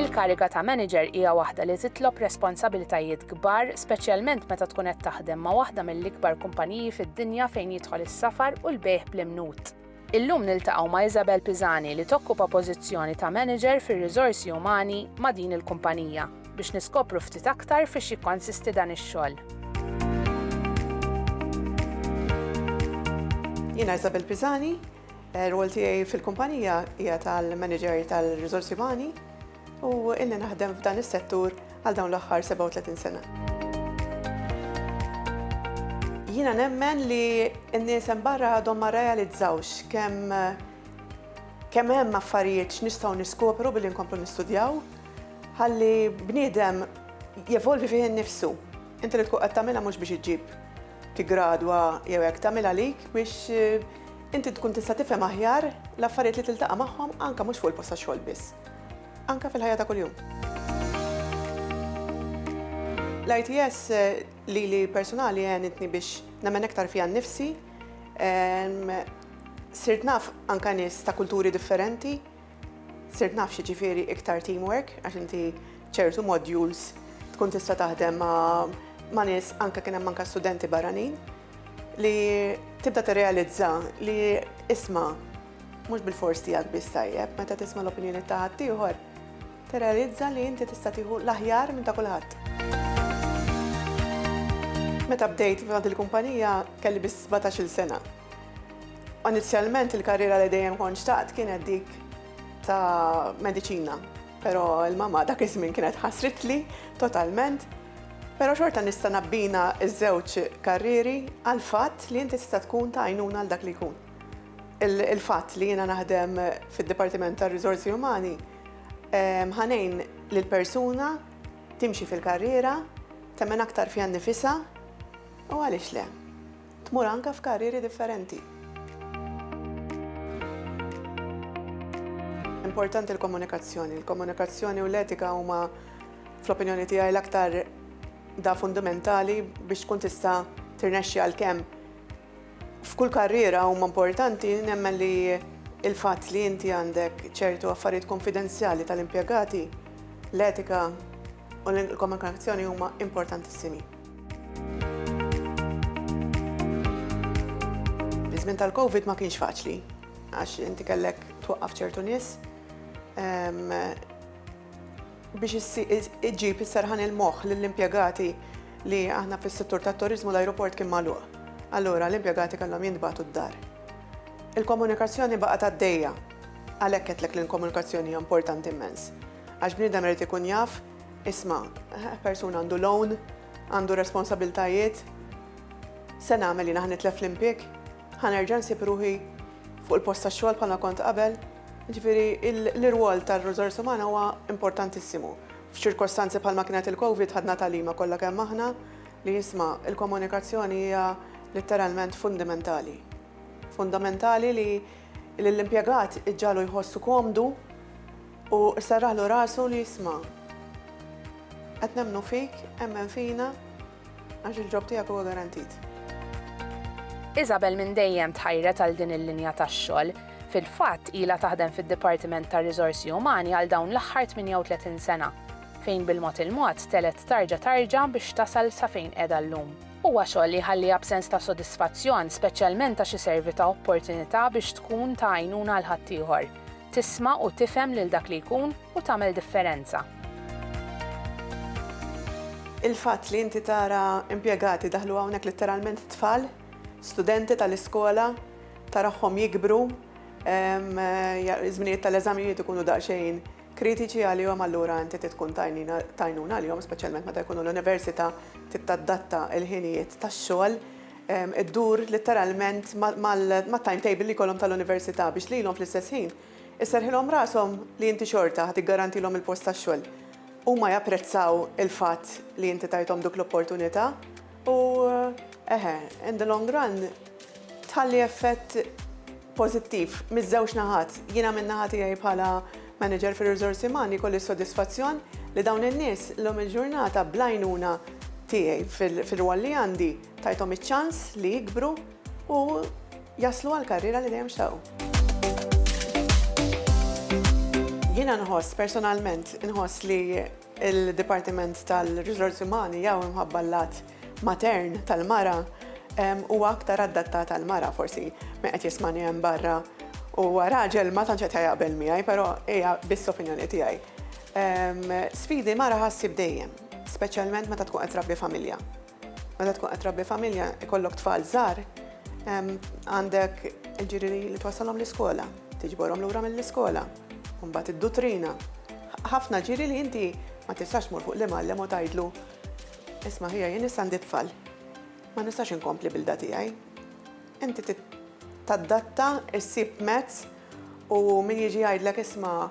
Il-kariga ta' manager hija waħda li titlob responsabilitajiet kbar, speċjalment meta tkun qed taħdem ma' waħda mill-ikbar kumpaniji fid-dinja fejn jidħol is-safar u l-bejgħ bl-imnut. Illum niltaqgħu ma' Isabel Pisani li tokkupa pożizzjoni ta' manager fir-riżorsi umani ma' din il-kumpanija. biex niskopru ftit aktar fiex jikkonsisti dan ix-xogħol. Jiena Isabel Pisani, eh, rwol tiegħi fil-kumpanija hija tal-manager tal-riżorsi umani u illi naħdem f'dan is-settur għal dawn l-aħħar 37 sena. Jiena nemmen li n-nies hemm barra għadhom ma realizzawx kemm kemm hemm affarijiet x'nistgħu niskopru billi nkomplu nistudjaw Ħalli bniedem jevolvi fih innifsu. Inti li tkun qed tagħmilha mhux biex iġġib tiggradwa jew hekk, tagħmilha għalik biex inti tkun tista' tifhem aħjar l-affarijiet li tiltaqa' magħhom anke mhux fuq il-post tax-xogħol biss, anke fil-ħajja ta' kuljum. L-ITS lili personali għenitni biex nemmen iktar fija nnifsi, sirt naf anke nies ta' kulturi differenti, Sirt naf x'jiġifieri iktar teamwork għax inti ċertu modules tkun tista' taħdem ma' nies anke kien hemm anke studenti barranin li tibda tirrealizza li isma' mhux bil-fors tiegħek biss tajjeb meta tisma' l-opinjoni ta' ħaddieħor tirrealizza li inti tista' tieħu l-aħjar minn ta' kulħadd. Meta bdejt f'għad il-kumpanija kelli biss sbatax-il sena. Inizjalment il-karriera li dejjem kont xtaqt kienet dik ta' mediċina, però l-mamma dak iż-żmien kienet ħasritli totalment. Però xorta nista' nabbina ż-żewġ karrieri għall-fatt li inti tista' tkun ta' għajnuna għal dak li jkun. Il-fatt li jiena naħdem fid-Dipartiment tar-Riżorsi Umani ħa ngħin lil persuna timxi fil-karriera, temmen aktar fiha nnifisha u għaliex le. Tmur anke f'karrieri differenti. Importanti l-komunikazzjoni. Il-komunikazzjoni u l-etika huma, fl-opinjoni tiegħi, l-aktar da fundamentali biex tkun tista' tirnexxi għalkemm f'kull karriera huma importanti nemmen li il-fatt li inti għandek ċertu affarijiet konfidenzjali tal-impjegati, l-etika, u l-komunikazzjoni huma importantissimi. Iż-żmien tal-COVID ma kienx faċli għax inti kellek twaqqaf ċertu nies biex iġġib is-serħan il-moħħ lill-impjegati li aħna fis-settur tat-turizmu l-ajruport kien magħluq. Allura l-impjegati kellhom jintbagħtu d-dar. Il-komunikazzjoni baqgħet għaddejja Għalhekk għedtlek li l-komunikazzjoni hija importanti immens. Għax bniedem irid ikun jaf, isma' persuna għandu loan, għandu responsabiltajiet, se nagħmel jiena ħanitlef l-impjeg, ħanerġa' nsib ruħi fuq il-post tax-xogħol bħalma kont qabel. Ġifieri l-irwol tar-riżors umana huwa importantissimu. F'ċirkostanzi bħalma kienet il-COVID ħadna tagħlima kollha kemm aħna li jisma' il-komunikazzjoni hija litteralment fundamentali. Fundamentali li Lill-impjegat iġġagħlu jħossu komdu u serraħlu rasu li jisma', Qed nemmnu fik, emmen fina għax il-ġob tiegħek huwa garantit. Isabel minn dejjem tħajret għal din il-linja tax-xogħol. Fil-fatt, ilha taħdem fid-Dipartiment tar-Riżorsi Umani għal dawn l-aħħar 38 sena, fejn bil-mod il-mod telgħet tarġa tarġa biex tasal sa fejn qiegħda llum. Huwa xogħol li jħalliha b'sens ta' sodisfazzjon, speċjalment għax iservi ta' opportunità biex tkun ta' għajnuna għal ħaddieħor, tisma' u tifhem lil dak li jkun u tagħmel differenza. Il-fatt li inti tara impjegati daħlu hawnhekk litteralment tfal, studenti tal-iskola, tarahom jikbru, iż-żminijiet tal-eżamijiet ikunu daqsxejn kritiċi għalihom allura inti trid tkun ta' għajnuna għalihom speċjalment meta jkunu l-università trid tadatta l-ħinijiet tax-xogħol iddur litteralment mat-timetable li jkollhom tal-università biex lilhom fl-istess ħin isserrħilhom rashom li inti xorta ħa tiggarantilhom il-post tax-xogħol. Huma japprezzaw il-fatt li inti tajthom dik l-opportunità. U eħe, in the long run, tħalli effett pożittiv miż-żewġ naħat. Jiena minn naħa tiegħi bħala manager fir-riżorsi umani kolli s-sodisfazzjon li dawn in-nies llum il-ġurnata bl-għajnuna tiegħi fir-rwol li għandi tajthom iċ-ċans li jikbru u jaslu għall-karriera li dejjem xtaqu. Jiena nħoss personalment, inħoss li Il-Dipartiment tal-Riżorsi Umani jew imħabba l-lat matern tal-mara huwa aktar addattat għall-mara forsi min qed jismani hemm barra huwa raġel ma tantx qed jaqbel miegħi, però hija biss opinjoni tiegħi. Sfidi mara ħassib dejjem, speċjalment meta tkun qed trabbi familja. Meta tkun qed trabbi familja, ikollok tfal żgħar, għandek il-ġiri li twassalhom l-iskola, tiġborhom lura mill-iskola, u mbagħad id-duttrina. Ħafna ġiri li inti ma tistax tmur fuq l-imgħallem u tgħidlu, Isma' ħija jien issa għandi tfal, ma nistax inkompli bil-da tiegħi. Inti tadatta, issib mezz u min jiġi jgħidlek isma'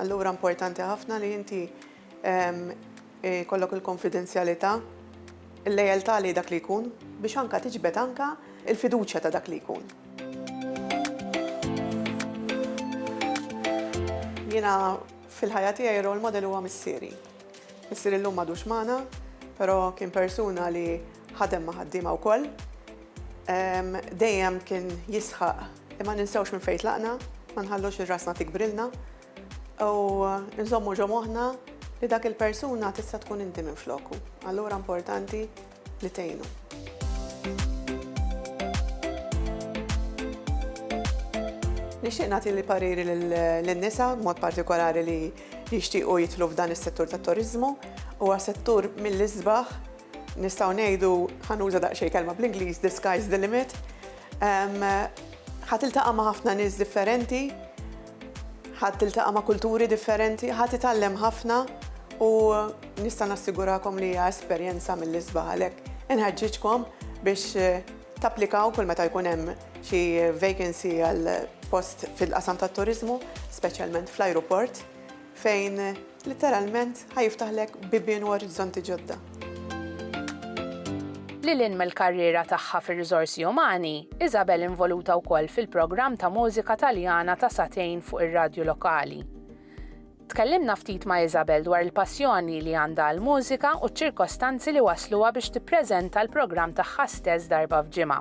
Allura importanti ħafna li inti jkollok il-konfidenzjalità, il-lealtà lejn dak li jkun biex anke tiġbed anke l-fiduċja ta' dak li jkun. Jiena fil-ħajja tiegħi role model huwa missieri. Missieri llum m'għadux magħna, però kien persuna li ħadem ma' ħaddiema wkoll. Dejjem kien jisħaq Imma ninsewx minn fejn tlaqna, ma nħallux li rasna tikbrilna u nżommu ġo moħħna li dak il-persuna tista' tkun inti minfloku. Allura importanti li tgħinu. Nixtieq nagħti l-pariri lin-nisa b'mod partikolari li jixtiequ jidħlu f'dan is-settur tat-turiżmu. Huwa settur mill-isbaħ Nistgħu ngħidu, ħa nuża daqsxejn kelma bl-Ingliż, the sky's the limit. Ħa tiltaqa' ma' ħafna nies differenti, ħa tiltaqa' ma' kulturi differenti, ħa titgħallem ħafna u nista' nassigurakom li hija esperjenza mill-isbaħ għalhekk inħeġġiġkom biex eh, tapplikaw kull meta jkun hemm xi vacancy għal post fil-qasam tat-turizmu, speċjalment fl-ajruport, fejn Litteralment, ħa jiftaħlek bibien u orizzonti ġodda. Lil hinn mill-karriera tagħha fir-riżorsi umani, Isabel involuta wkoll fil-programm ta' mużika Taljana ta' sagħtejn fuq ir-radju lokali. Tkellimna ftit ma' Isabel dwar il-passjoni li għandha għall-mużika u ċ-ċirkostanzi li wassluha biex tippreżenta l-programm tagħha stess darba f'ġimgħa.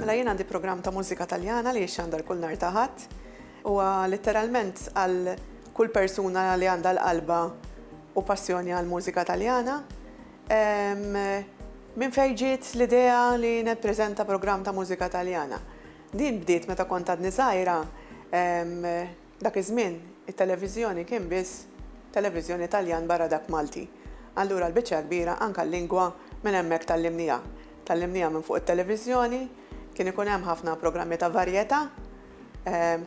Mela jien għandi programm ta' mużika Taljana li jixxandar kull nhar ta' Ħadd. Huwa litteralment għal kull persuna li għandha l-qalba u passjoni għall-mużika Taljana. Minn fejn ġiet l-idea li nippreżenta programm ta' mużika Taljana? Din bdiet meta kont għadni żgħira, dak iż-żmien it-televiżjoni kien biss televiżjoni Taljan barra dak Malti. Allura l-biċċa l-kbira anke l-lingwa minn hemmhekk tgħallimniha. Tgħallimniha minn fuq it-televiżjoni, kien ikun hemm ħafna programmi ta' varjetà,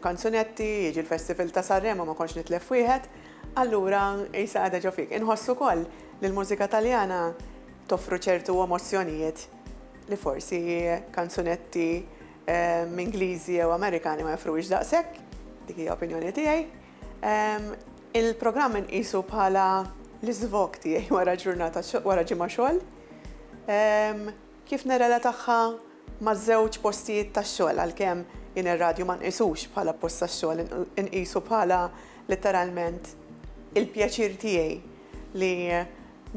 Kanzunetti, jiġi l-Festival ta' Sanremo ma kontx nitlef wieħed, allura qisha qiegħda ġo fik. Inħoss ukoll li l-mużika Taljana toffru ċertu emozzjonijiet li forsi kanzunetti Ingliżi jew Amerikani ma joffruhiex daqshekk, dik hija opinjoni tiegħi. Il-programm inqisu bħala l-iżvog tiegħi wara ġurnata wara ġimgħa xogħol. Kif nirrelatagħha ma' żewġ postijiet tax-xogħol għalkemm jien ir-radju ma nqisux bħala post tax-xogħol inqisu bħala litteralment il-pjaċir tiegħi li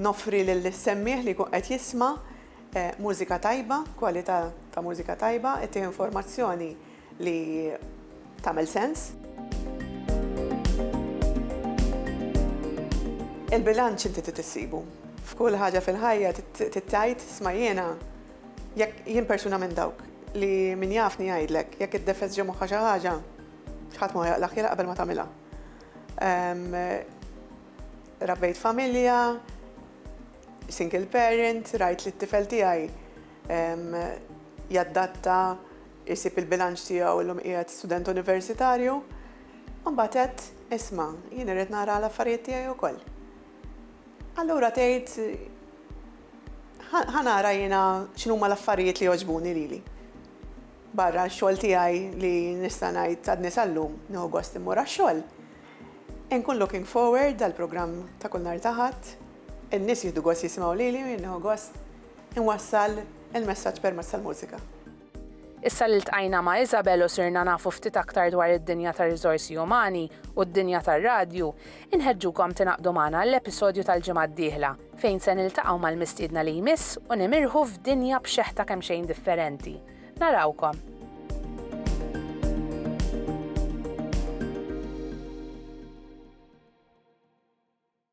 noffri lill-semmiegħ li jkun qed jisma' mużika tajba, kwalità ta' mużika tajba, ittih informazzjoni li tagħmel sens. Il-bilanċ inti trid issibu. F'kull ħaġa fil-ħajja trid tgħid isma' jiena jekk jien persuna minn dawk li min jafni jgħidlek jekk iddefess ġo moħħha xi ħaġa ħadd ma jaqlaq jilaq qabel ma tagħmilha. Ehm, rabbejt familja, single parent, rajt li t-tifel tiegħi ehm, jaddatta Isib il-bilanċ tiegħu illum qiegħed student universitarju u mbagħad għedt, isma', jien irrid nara l-affarijiet tiegħi wkoll. Allura tgħid ħa nara jiena x'inhuma l-affarijiet li jogħġbuni lili. Barra x-xogħol tiegħi li nista' ngħid għadni sal-lum nieħu gost immur għax-xogħol. Inkun looking forward għal programm ta' kull nhar ta' Ħadd, in-nies jieħdu gost jisimgħu lili u jien nieħu gost inwassal il-messaġġ permezz tal-mużika. Issa li ltqajna ma' Isabel u sirna nafu ftit aktar dwar id-dinja tar-riżorsi umani u d-dinja tar-radju, inħeġġukom tingħaqdu magħna għall-episodju tal-ġimgħa d-dieħla, fejn se niltaqgħu mal-mistiedna li jmiss u nimirħu f'dinja b'xeħta kemxejn differenti. Narawkom!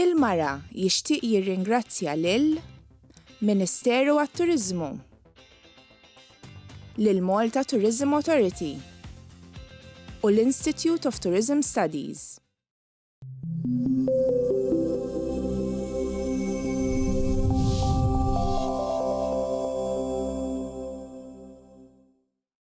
Il-Mara jixtieq jirringrazzja lil Ministeru għat-Turiżmu, lill-Malta Tourism Authority u l-Institute of Tourism Studies.